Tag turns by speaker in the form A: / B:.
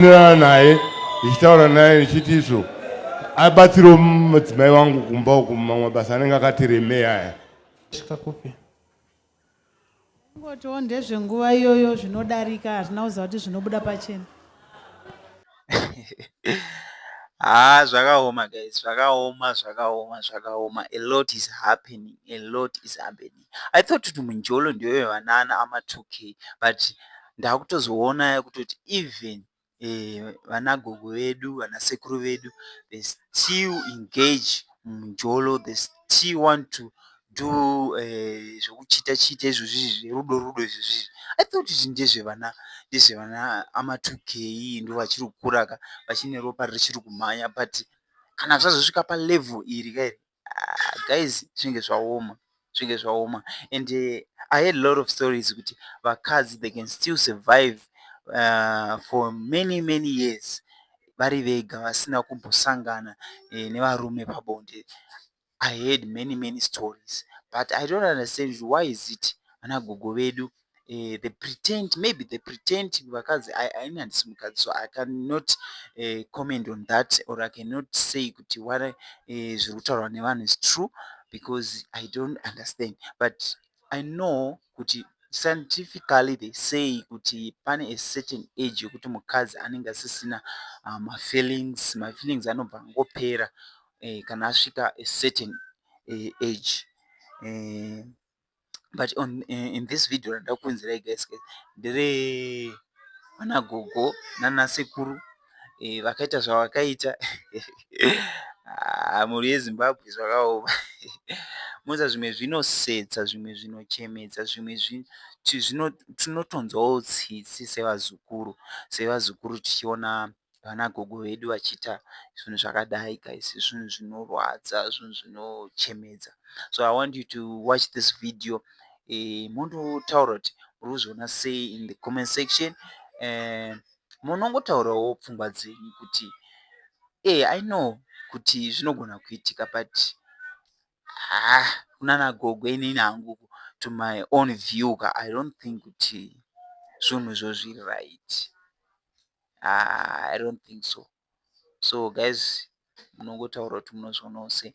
A: ndinoenderana naye ndichitaura naye ndichiti izvo abatsiro mudzimai wangu kumba uku mamwe mabasa anenge akati remei aya svika kupi ngotiwo ndezvenguva iyoyo zvinodarika hazvina kuziva kuti zvinobuda pachena haa ah, zvakaoma guys zvakaoma zvakaoma zvakaoma a lot is happening a lot is happening i thought kuti munjolo ndiyo yevanana ama 2k but ndakutozoona yakutoti even eh, vanagogo vedu vanasekuru vedu they still engage munjolo they still want to do eh, zvekuchita chita izvozvizvi zverudo rudo izvozvizvi i thought kuti ndezvevana ndezvevana ama 2k ndo vachiri kukuraka vachine ropa richiri kumhanya but kana zvazosvika palevel iri kairi ah, guys zvinge zvaoma zvinge zvaoma and uh, i had lot of stories kuti vakadzi they can still survive uh, for many many years vari vega vasina kumbosangana eh, nevarume pabonde i had many many stories but i don't understand why is it vanagogo vedu eh, the pretend maybe the pretend vakadzi ini handisi mukadzi so i cannot eh, comment on that or i cannot say kuti what eh, zviri kutaurwa nevanhu is true because i don't understand but i know kuti scientifically they say kuti pane a certain age yokuti mukadzi anenge asisina uh, mafeelings mafeelings anobva angopera eh, kana asvika a certain eh, age eh, but on eh, in this video randida kuunzirai guys guys ndere vana gogo nana sekuru eh, vakaita zvavakaita ah, mhuri yezimbabwe zvakaoma moza zvimwe zvinosetsa zvimwe zvinochemedza zvimwe zvinotonzwawo tsitsi sevazukuru sevazukuru tichiona vana gogo vedu vachiita zvinhu zvakadai guys zvinhu zvinorwadza zvinhu zvinochemedza so i want you to watch this video eh, mondotaura kuti muri kuzviona sei in the comment section eh, munongotaurawo pfungwa dzenyu kuti e i know kuti zvinogona kuitika but haa kunana gogo inini hangu to my own view ka i don't think kuti zvinhu izvo zviri right haa i don't think so so guys munongotaura kuti munozvionawo sei